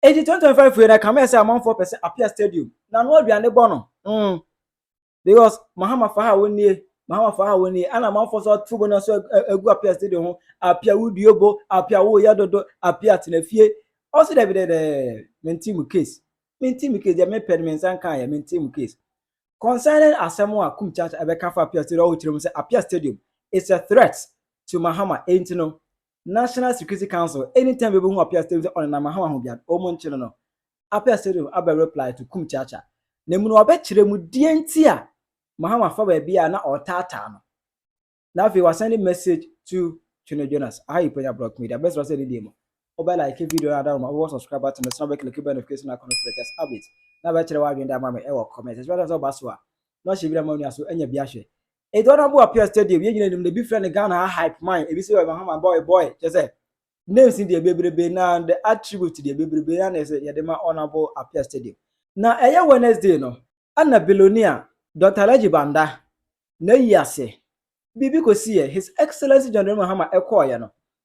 Enti 2025 wei na ɛkame yɛ sɛ amanfoɔ pɛ sɛ Apia Stadium na ano aduane bɔ no. Mm. Because Mahama fa ha wɔnnie, Mahama fa ha wɔnnie, ɛna amanfoɔ nso ato bo no nso agu Apia Stadium ho, Apia wodue bo, Apia woyɛ dodo, Apia tena fie. Ɔse dɛbi dɛdɛ, mente mu case, mente mu case, deɛ mepɛ no me nsa nka yɛ, mente mu case. Concerning asɛm a Kum Chacha ɛbɛka fa Apia Stadium, ɔwɔ kyerɛ mu sɛ Apia Stadium is a threat to Mahama, enti no, National Security Council anytime bi obehu Appiah Stadium sɛ ɔnenam ahaw aho biara no, wɔnkye no no. Appiah Stadium abɛ reply to Kum Chacha. Na emu no wɔbɛkyerɛ mu deɛ nti a Mahama fa baabi a na ɔretaataa no. Na afei wasɛnde message to Twene Jonas. Aha yi Panya Blog Media. Bɛsrɛ wo sɛ didie mu. Wobɛ like video no adawoma, wobɛbɔ subscribe button no so na wobɛkliki bell notification icon no for latest updates. Na bɛkyerɛ w'adwene de ama me wɔ comment. Ɛsɛ sɛ sɛ woba so a, na hyɛ bi na ma w'ani aso anya bi ahwɛ. Eduana Buapia Stadium, yɛn nyina nim no, ebi frɛ no Ghana ha Hype Man, ebi sɛ ɔyɛ Mahama Boy Boy, kyɛ sɛ names no deɛ bebrebe na the attribute deɛ bebrebe na na ɛsɛ yɛde ma Honourable Apia Stadium. Na ɛyɛ Wednesday no, ɛna Bilonia Dɔkta Alhaji Banda n'ayi ase biribi kɔsiiɛ, His Excellency John Dramani Mahama ɛkɔɔeɛ no,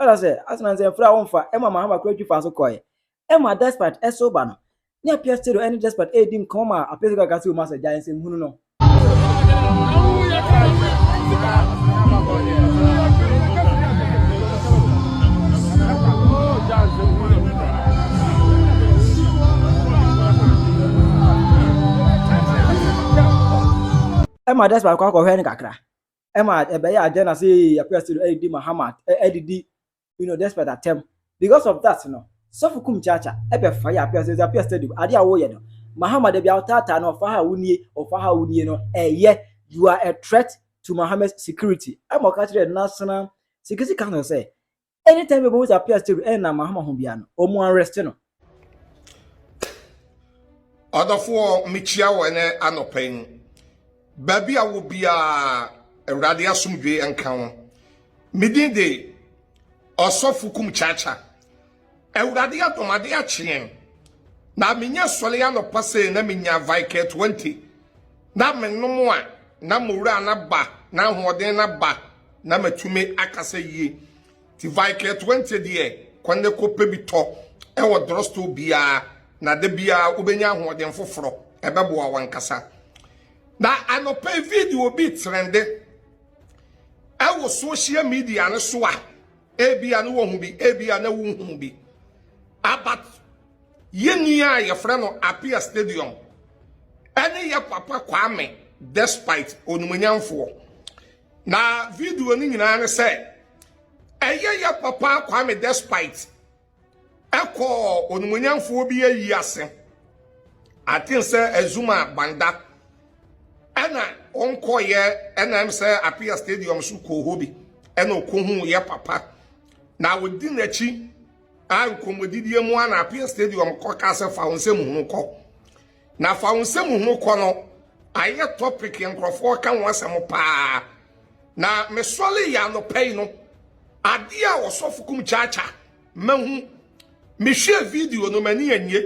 ɛna sɛ asena nsɛ mfra wo mfa ɛma ma hama kura twi fa so kɔɛ ɛma despite ɛso ba no ne apia stereo ɛne despite ɛdi nkɔmɔ ma apia sɛ kakase wo ma sɛ gya nsɛm hunu no ɛma despite kɔ akɔhwɛ no kakra ɛma ɛbɛyɛ agenda sɛ ɛpɛ sɛ ɛdidi mahamat ɛdidi you know despite attempt because of that no sɔfo kum kyaakya ɛbɛ fa yɛ appears ɛdze appears stadium ade a wɔyɛ no mahama dabi a ɔtaataa no ɔfa ha a wonie ɔfa ha a wonie no ɛyɛ you are a threat to mahama's security ɛma ɔka kyerɛ national security council sɛ anytime bɛ bɛ wɔn appears stadium ɛna mahama ho bia no wɔn arrest no ɔdɔfoɔ mekyia wɔ ɛnɛ anɔpa yi mu baabi a wɔ biara awurade asomdwe nka ho medin de ɔsɔfo kum kyaakya awurade adɔmade akyeɛn na menya sɔre anɔpa sɛ na menya viker 20 na menom a na mowura no aba na ahoɔden no aba na matumi akasa yie Ti Vicare Twenty deɛ kɔ ne kɔ pɛ bi tɔ ɛwɔ drugstore biara na da biara wobɛnya ahoɔden foforɔ ɛbɛboa wankasa. Na anɔpɛ yi video bi trende ɛwɔ social media no so a ebia no wɔhu bi ebia na wonhu bi abat yɛnua a yɛfrɛ no Apia Stadium ɛne yɛ papa Kwame despite onimonyamfoɔ Na video no nyinaa ne sɛ ɛyɛ yɛ papa Kwame Despite ɛkɔɔ onimonyamfoɔ bi ayi ase aten sɛ Azuma Banda ɛna ɔnkɔyɛ ɛna ɛm sɛ Apia Stadium so kɔɔ hɔ bi ɛna ɔkɔhu yɛ papa na ɔdi n'akyi a nkɔmmɔdidie mu a na Apia Stadium kɔ ka sɛ fa wo nsɛm hunu kɔ Na fa wo nsɛm hunu kɔ no ayɛ topic nkurɔfoɔ ka ho asɛm paa na mesɔre yɛ anɔpa yi no adeɛ a ɔsɔfo kum kyaakya mahu mehwɛ video no m'ani anye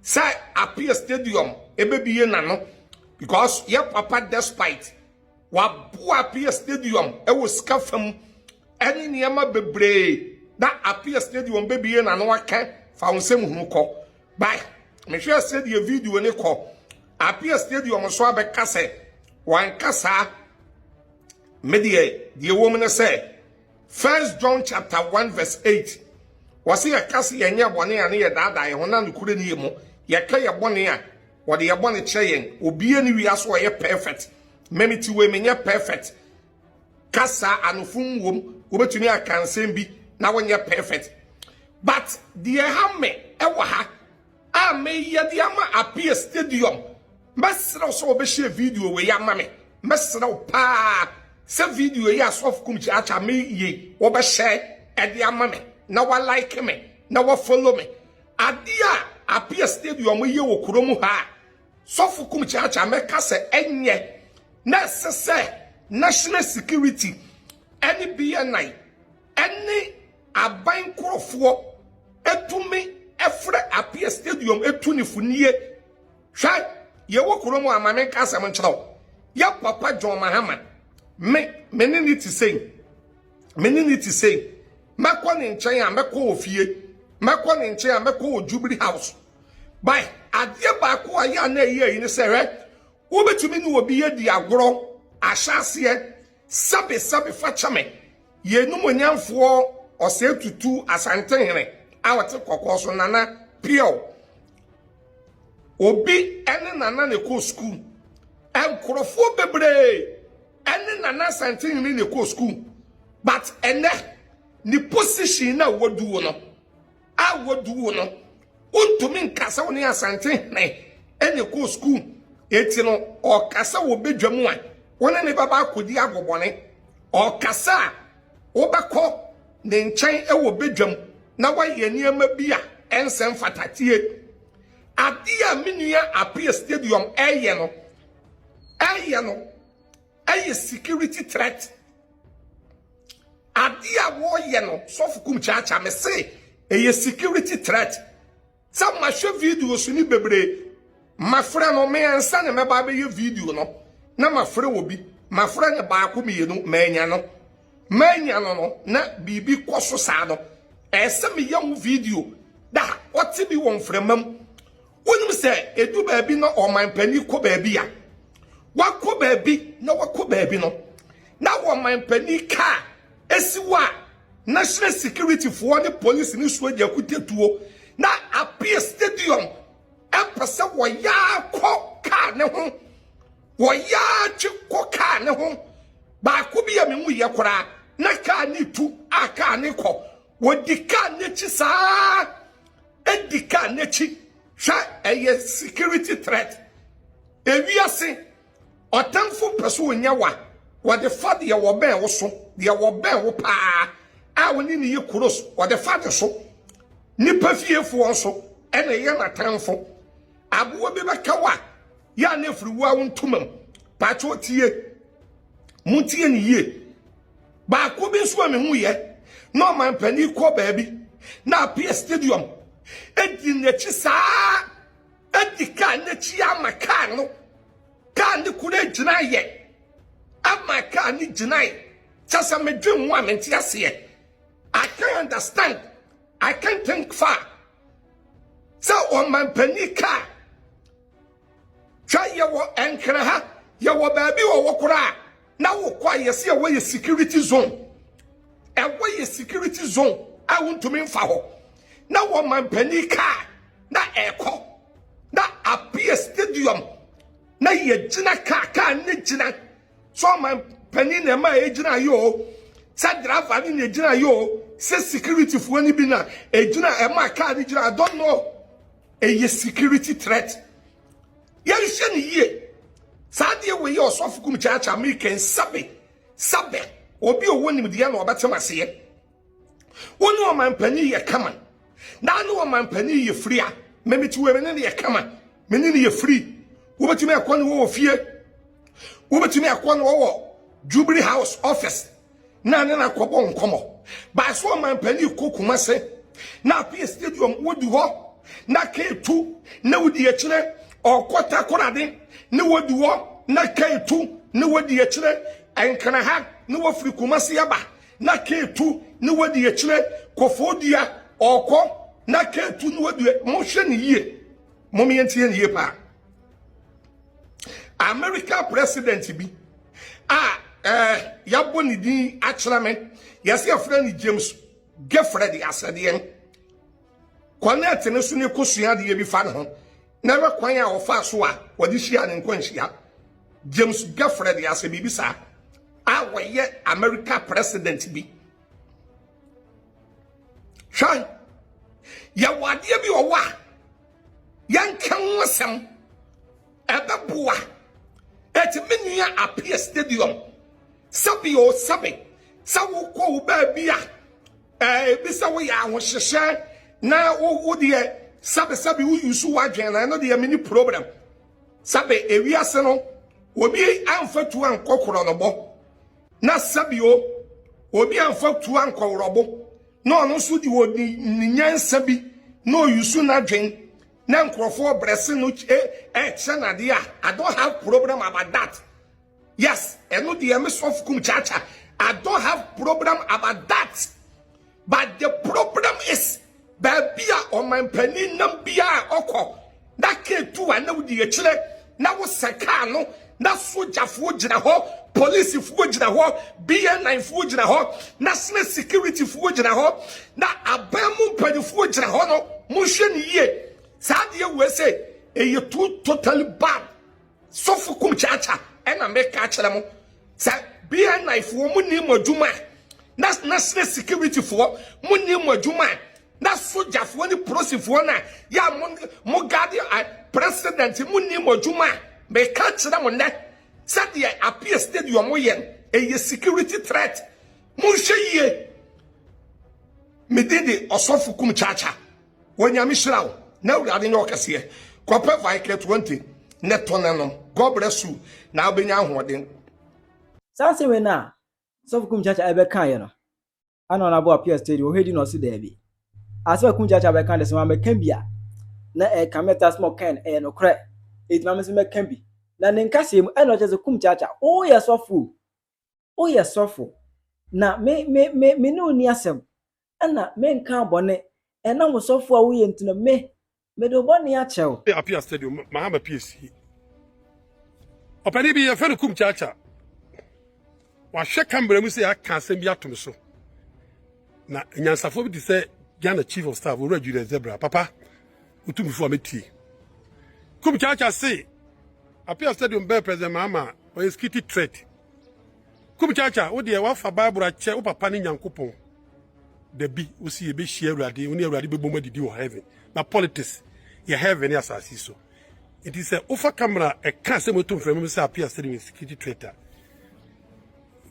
sɛ appear stadium ɛbɛbie n'ano because yɛ papa despite waboa appear stadium ɛwɔ sika fam ɛne nneɛma bebree na appear stadium bɛbie n'ano aka fa wo nsɛm hunu kɔ Bae. Mehwɛɛ sɛdeɛ video no kɔ. Appiah Stadium nso abɛka sɛ, Wanka saa. Me deɛ, deɛ ɛwɔ mu ne sɛ, First John chapter 1 verse 8, wɔse yɛka se yɛnyɛ bɔne a ne yɛdaadaa yɛn ho na nokorɛ nni yɛn mu. Yɛka yɛn bɔne a, wɔde yɛn bɔne kyerɛ yɛn. Obiara nni wiase a ɔyɛ perfect. Me mete wei, menyɛ perfect. kasa anofom wom wobɛtumi aka nsɛm bi na wonyɛ perfect but deɛ ha me ɛwɔ ha a meyɛ de ama appear stadium mɛserɛ sɛ wɔbɛhyɛ video wei ama me mɛserɛ wo paa sɛ video yi asɔfo kum kyaakya meyɛ wɔbɛhyɛ ɛde ama me na walike me na wafollow me adeɛ a appear stadium yɛ wɔ kurom ha a Sɔfo kum kyeakyea mɛka sɛ ɛnyɛ na ɛsɛ sɛ national security ɛne BNI ɛne aban nkurɔfoɔ ɛtumi ɛfrɛ apeɛ stadium ɛtu ne funie hwɛ yɛwɔ kuro mu ama menka asɛm nkyerɛ wo yɛ papa John Mahama me me ne ne te sei me ne ne te sei mɛkɔ ne nkyɛn a mɛkɔ ofie mɛkɔ ne nkyɛn a mɛkɔ wɔ Jubilee House Bae, adeɛ baako a yɛ a na ɛyɛ yi ne sɛ, hwɛ, wobɛtumi ne obi adi agorɔ, ahyɛ aseɛ, sɛbe sɛbe fa kyɛ me, yɛnum onyamfoɔ ɔsɛe tutu asantenhene a ɔte kɔkɔɔ so nana piɛw. Obi ne nana na ɛkɔ sukuu. Nkurɔfoɔ bebree ne nana asantenhene na ɛkɔ sukuu. But ɛnɛ, ne position na waduo no, a wɔdu wo no wontumi nka sɛ wo ne asante hene ɛne kɔɔ sukuu eti no ɔka sɛ wɔbɛdwa mu a wo ne ne baba akɔdi agobɔne ɔka sɛ a wobɛkɔ ne nkyɛn wɔ bɛdwam na wayɛ nneɛma bi a ɛnsɛ mfata tie adeɛ a me nua appear stadium ɛyɛ no ɛyɛ no Ɛyɛ security threat. Ade a wɔyɛ no sɔfo kum kyaakyaa me se ɛyɛ security threat. Sɛ mahwɛ videos ni bebree mafrɛ no me ansa ne mɛba abɛyɛ video no na mafrɛ wɔ bi mafrɛ ne baako mmienu manya no manya no no na biribi kɔ so saa no ɛsɛ meyɛ ho video da ɔte bi wɔ mframa mu Wonim sɛ edu baabi na ɔman panyin kɔ baabi a wakɔ baabi na wakɔ baabi no na ɔman panyin kaa esi wɔ a national security foɔ ne polisi ne soja kutatuo na appear stadium ɛpɛ sɛ wɔyaa kɔ kaa ne ho wɔyaa twe kɔ kaa ne ho baako bi a me mu yɛ koraa na kaa ne tu a kaa ne kɔ Wɔdi kaa n'akyi saa di kaa n'akyi hwɛ ɛyɛ security threat ewiase ɔtamfo pɛ so ɔnya wa wɔde fa deɛ wɔbɛn wo so deɛ wɔbɛn wo paa a wo ne ne yɛ kuros wɔde fa ne so nipa fiefoɔ nso ɛna ɛyɛ n'atamfo aboa bi bɛka wa yɛ a na afiri wo a wo ntoma mu patwɛ ɔtie mo tie ne yie Baako bi nso a mehu yɛ na ɔman panin kɔ baabi na apia stadium edi n'akyi saa edi kaa n'akyi ama kaa no kaa ne kura gyina yɛ ama kaa ne gyina yi kyɛ sɛ medwe mu a mente aseɛ I can understand I can think far sɛ ɔman panin kaa Hwɛ yɛwɔ ɛnkran ha yɛwɔ baabi wɔ wɔ koraa na wokɔ a yɛsi ɛwɔ yɛ security zone ɛwɔ yɛ security zone a wontumi nfa hɔ na wɔ mampanin kaa na ɛkɔ na apia stadium na yɛgyina kaa kaa ne gyina so mampanin na ɛma ɛgyina yɛ o sɛ driver ne na ɛgyina yɛ o sɛ securityfoɔ no bi na ɛgyina ɛma kaa ne gyina I don't know ɛyɛ security threat yɛnhyɛ ne yie saa deɛ wei yɛ ɔsɔfo kum kyaakyaa mekɛn sabe sabe obi a ɔwɔ nimdeɛ na ɔbɛtem aseɛ wo ne ɔmampanin yɛ kama na ne ɔmampanin yɛ firi a memete wei mene ne yɛ kama mene ne yɛ firi wobɛtumi ɛkɔ ne wɔwɔ fie wobɛtumi ɛkɔ ne wɔwɔ jubilee house office na ne na kɔbɔ nkɔmɔ baa so ɔman panin kɔ kumase na afei stadium wodi hɔ na keetu na wodi akyire ɔkɔ takorade ne wodi hɔ na keetu ne wodi akyire nkana ha ne wafiri kumase aba na keetu ne wodi akyire kɔfɔɔ dua ɔkɔ na keetu ne wodi mohwɛ ne yie mɔmeyɛ ntie ne yie paa america president bi a eh, yɛabɔ ne din akyerɛ me yɛsɛ yɛfrɛ no james gefrɛ de asɛdeɛ connect no so ne kɔsua adeɛ bi fa ne ho na ɛbɛ kwan a wɔfaa so a wɔde hyia ne nkwanhyia james gefrɛ de asɛ biribi saa a wɔyɛ america president bi hwɛ yɛwɔ adeɛ bi ɔwɔ a Yɛnka ho asɛm. Ɛbɛboa. Ɛti me nua appear stadium. Sɛbi o sɛbi. Sɛ wokɔ wo baabi a ebi sɛ woyɛ ahohyehyɛ na wo deɛ sɛbi sɛbi wo yusu wadwen na ɛno deɛ mini problem. Sɛbi ewiase no obi amfa tuo ankɔ korɔnɔbɔ na sɛbi o obi amfa tuo ankɔ worɔbo. na ɔno nso de ɔde ne nyansa bi na ɔyusu n'adwen na nkurɔfoɔ brɛse no ɛkyɛ no adeɛ a I don't have problem about that yes ɛno deɛ me sɔfo kum kyaakya I don't have problem about that but the problem is baabi a ɔmanpanin nam biara ɔkɔ na kaa tu a na wodi akyire na wosɛ kaa no na sogyafoɔ gyina hɔ polisifoɔ gyina hɔ bnfoɔ gyina hɔ national securityfoɔ gyina hɔ na aban mu mpanimfoɔ gyina hɔ no monhwɛ ne yie saa adeɛ wei sɛ ɛyɛ too totally bad Sɔfo kum kyaakya ɛna meka kyerɛ mo sɛ BNI foɔ mo ni mo adwuma na national security foɔ mo ni mo adwuma na soja foɔ ne polisi foɔ na ya mo mo guard president mo ni mo adwuma meka kyerɛ mo nɛ sɛdeɛ appear stadium mo yɛn ɛyɛ security threat mo nhwɛ yie medin de ɔsɔfo kum kyaakya Onyame hyira wo na awurade nyɛ ɔkɛseɛ. Kɔpɛ Viker 20 ne tɔ na nom. God bless you na wobɛnya ahoɔden. Saa asɛm wei no a sɔfo Kumkyakya ɛbɛkaeɛ no ana ɔnabo appear stage wɔ hɔ ɛdi na ɔse daabi? Asɛm a Kumkyakya bɛka de sɛ wammɛka bi a na ɛka me taa sɛ ma ɔkaeɛ no ɛyɛ nokorɛ ɛti ma me nso mɛka bi na ne nkaseɛ mu ɛna ɔkyerɛ sɛ Kumkyakya woyɛ sɔfo o woyɛ sɔfo, na me me me me ne wo nni asɛm, ɛna menkaa bɔne, ɛnam osɔfo a woyɛ nti no, me, mede wo bɔne akyɛ wo. Apia Stadium, Mahama PAC ɔpanin bi yɛfrɛ no Kum Kyaakyaa. Wahwɛ camera mu sɛ aka asɛm bi ato me so. na nyansafo bi te sɛ ghana chief of staff owura julius zebra papa wotumifo a metie kum kyaakya se apia stadium bɛɛ president maama ɔyɛ skiti threat kum kyaakya wo deɛ wafa bible akyɛ wo papa ne nyankopɔn dabi wo si yɛbɛhyia awurade wo ne awurade bɛbom adidi wɔ heaven na politics yɛ heaven ne asase so nti sɛ wofa kamera ɛka sɛ moto mfrɛ mu sɛ apia stadium skiti threat a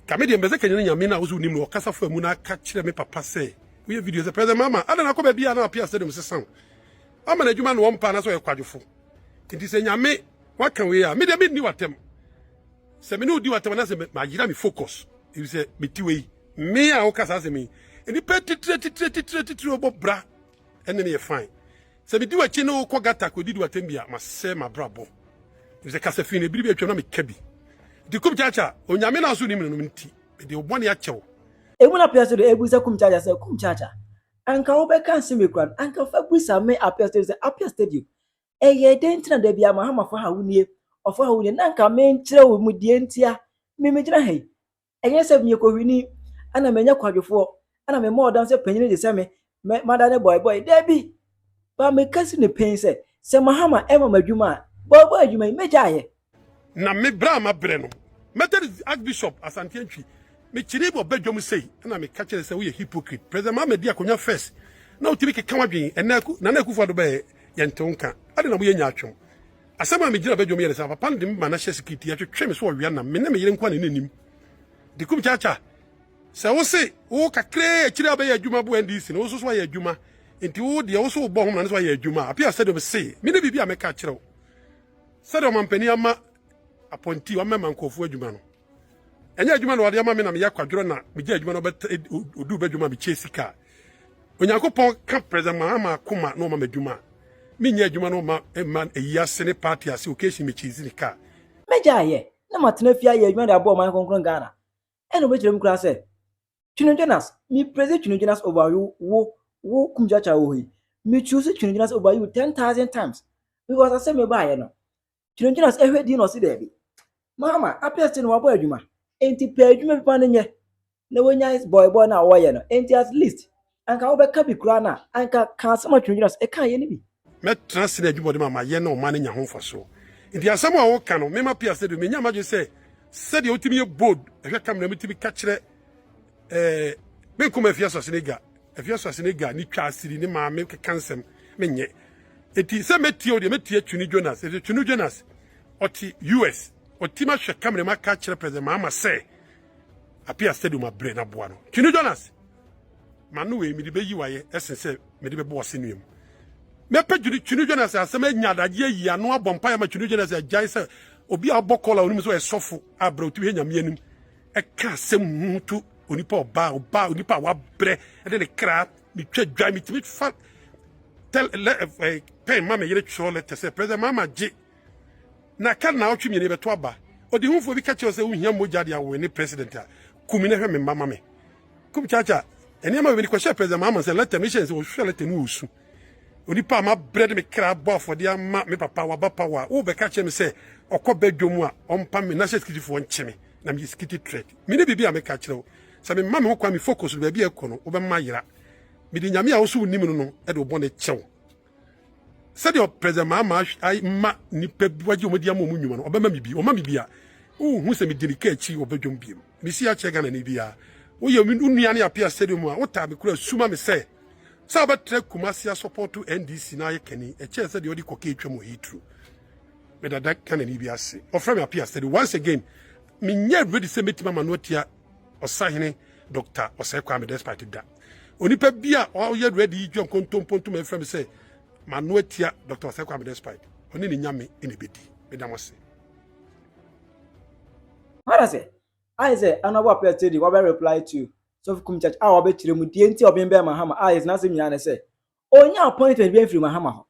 Nka me deɛ mpɛ sɛ kanyan Nyame no a wo sɛ wonim no ɔkasa fa mu na ka kyerɛ me papa sɛ woyɛ video sɛ President Mahama adɛn na akɔ baabi a na apia stadium sesa wo ama no adwuma na ɔmpa anaasɛ ɔyɛ kwadwofo nti sɛ Nyame waka wei a me deɛ menni w'atɛm sɛ me ne wodi w'atɛm anaasɛ mayera me focus ɛfiri sɛ meti wei me a woka saa asɛm yi nnipa titire titire titire titire ɔbɔ bra ɛne me yɛ fine Sɛ midi w'akyi ne wo kɔ gata kɔdidi w'atɛmbi a, masɛe m'abrabɔ. Efisɛ kasa fi na bere bi atwam na meka bi. Enti Kumkyakya, Onyame na so nim no no nti, mede wo bɔne akyɛ wo. Emu na Piasedo bisa Kumkyakya sɛ, Kumkyakya, anka wobɛka nsɛm bi koraa no, anka fa bisa me Apiasedo sɛ, Apiasedo, ɛyɛɛ dɛn nti na da biara Mahama fa ha wo nie, ɔfa ha wo nie, na anka menkyerɛ wo mu deɛ nti a me megyina ha yi? Ɛnyɛ sɛ meyɛ kohwini na manya kwadwofoɔ na mema ɔdan sɛ panyin gye sɛ me mɛ mada ne bɔe bɔe daabi ba meka si no pɛn sɛ sɛ Mahama ɛma m'adwuma a bɔe bɔe adwuma yi mɛgya ayɛ. Na me berɛ a mabrɛ no Methodist Archbishop Asante Antwi mekyeree wɔ badwam sei na meka kyerɛ sɛ woyɛ hypocrite President Mahama di akonwa first na wotumi keka wadwen ɛnɛ Nana Akufo-Addo bɛɛ yɛnte wo nka adɛn na moyɛ nyaatwom Asɛm a migyina badwam yɛ ne sɛ, papa no de me ba n'ahyɛse kiti, ɛtwetwe me so ɔwea nam. Me ne me yere nko na na enim. Dikum Chacha, sɛ wose wo kakraa akyiri a wobɛyɛ adwuma bo NDC no, wo nso so ayɛ adwuma. Enti wo deɛ, wo so wobɔ ho mmara no so ayɛ adwuma a, Appiah Stadium se, me ne biribi a mɛka akyerɛ wo. Sɛdeɛ ɔmampanin ama apɔnti, wamɛma nkurɔfoɔ adwuma no, ɛnyɛ adwuma na ɔde ama me na meyɛ akwadworɔ na megyaa adwuma na ɔduu badwam a mekyɛɛ sika a, Onyankopɔn ka President Mahama akoma na ɔma m'adwuma. Menyɛ adwuma na ɔma ɛma ayi ase ne party ase occasion me chase ne car. Mɛgyae ayɛ na matena fie ayɛ adwuma de aboa ɔman kronkron Ghana. Ɛna ɔbɛkyerɛ mu koraa sɛ, Twene Jonas, me praise Twene Jonas over you wo wo Kumjata wɔ hɔ yi. Me choose Twene Jonas over you ten thousand times because asɛ mebaeɛ no, gyinagyina ase hwɛ din na ɔsi dɛbi mama apɛ se na wabɔ adwuma enti pɛ adwuma bi pa no nyɛ na wanya bɔibɔ na wɔyɛ no enti at least anka wobɛka bi koraa na anka ka asɛm a twinagyina so ɛka yɛ no bi mɛtena ase na adwumɔden ma mayɛ na ɔman no nya ho mfasoɔ nti asɛm a woka no mema pɛ ase de menya madwene sɛ sɛdeɛ wotumi yɛ bold hwɛ camera mutumi ka kyerɛ eh, me nkɔm afi asase no gya afi asase no gya ne twa asiri ne maame keka nsɛm menyɛ eti sɛ mɛtie o deɛ mɛtie twini jonas ɛti twini jonas ɔte us ɔtim ahwɛ kamera mu aka kyerɛ president maama sɛ apia stadium abrɛ no aboa no twini jonas ma no wei mede bɛyi wayɛ ɛsen sɛ mede bɛbɔ ɔse nnuam mɛpɛ twini twini jonas asɛm anya adagye ayi ano abɔ mpaeɛ ma twini jonas agyae sɛ obi a ɔbɔ kɔla onim sɛ ɔyɛ sɔfo abrɛ ɔtumi hɛ nyame anim ɛka asɛm hunu to onipa ɔbaa ɔbaa onipa a wabrɛ ɛde ne kra metwa dwa metumi fa tɛl lɛ ɛɛ pɛn ma me yere twerɛ lɛtɛ sɛ president maama gye na ka na ɔtwe mmienu bɛto aba ɔde hufoɔ bi ka kyerɛ sɛ wohia mogya de awoe ne president a kumi na hwɛ me mma ma me kum kyakya nneɛma bɛbi ne kɔhyɛ president maama sɛ lɛtɛ no hyɛ sɛ ɔhwɛ lɛtɛ no ɔsu onipa a mabrɛ de me kra bɔ afɔdeɛ ama me papa waba pa wɔ a wobɛka kyerɛ me sɛ ɔkɔ bɛdwom a ɔmpa me na sɛ sikitifoɔ nkye me na meyɛ sikiti trɛk me ne biribi a meka kyerɛ wo sɛ memma me ho kwan me focus no baabi a ɛkɔ no wobɛma yera mede nyame a wo so wonim no no de wo bɔne kyɛw sɛdeɛ president maama ma nnipa bi wagye wɔn adi ama wɔn nnwuma no ɔbɛma me bi ɔma me bi a wohu sɛ medi ne ka akyi ɔbɛdwom biem mesi akyerɛ ghana ne biara woyɛ wo nua ne apea stadium a wotaa me kora suma me sɛ sɛ wobɛtrɛ kumase asɔpɔto ndc na ayɛ kani ɛkyɛɛ sɛ deɛ ɔde kɔkɛ atwa mu ɛyɛ turu Me dada Ghana ni bi ase. Ɔfrɛ me Apia Steady. Once again, menyɛ ready sɛ mɛtumi ama no atia ɔsahene Dr. Ɔsɛe Kwame despite da. Onipa bi a ɔyɛ ready yi dwa nkontomponto ma ɛfrɛ me sɛ mano atia Dr. Ɔsɛe Kwame despite ɔne ne nyame na ɛbɛdi. Meda mo ase. Ana sɛ ayɛ sɛ Honourable Apia Steady wabɛ reply to Sɔfo Kum Church a wabɛkyerɛ mu deɛ nti a ɔbembɛn Mahama a yɛte n'asɛm nyinaa ne sɛ ɔnnya appointment biara mfiri Mahama hɔ.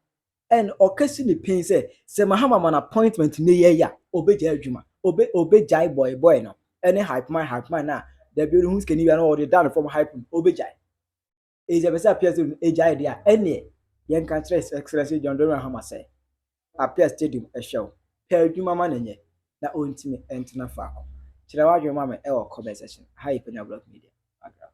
And ɔka si ne pen sɛ sɛ Mahama ma no appointment nnɛ yi ayi a, ɔbɛgyae adwuma. Ɔbɛ ɔbɛgyae bɔe bɔe no ne hype man hype man no a dabi ɔde hu sikani bi a na ɔde da no fam hype no, ɔbɛgyae. Enti sɛ ɛpɛ sɛ Apia Stadium ɛgyae deɛ a, ɛnneɛ yɛnka nkyerɛ His Excellency John Dramani Mahama sɛ Apia Stadium ɛhwɛ wo. Pɛ adwuma ma no nyɛ na ɔntumi ntena faako. Kyerɛ w'adwene ma me wɔ comment section. Ɛha yɛ Panyabulɔk Media. Background.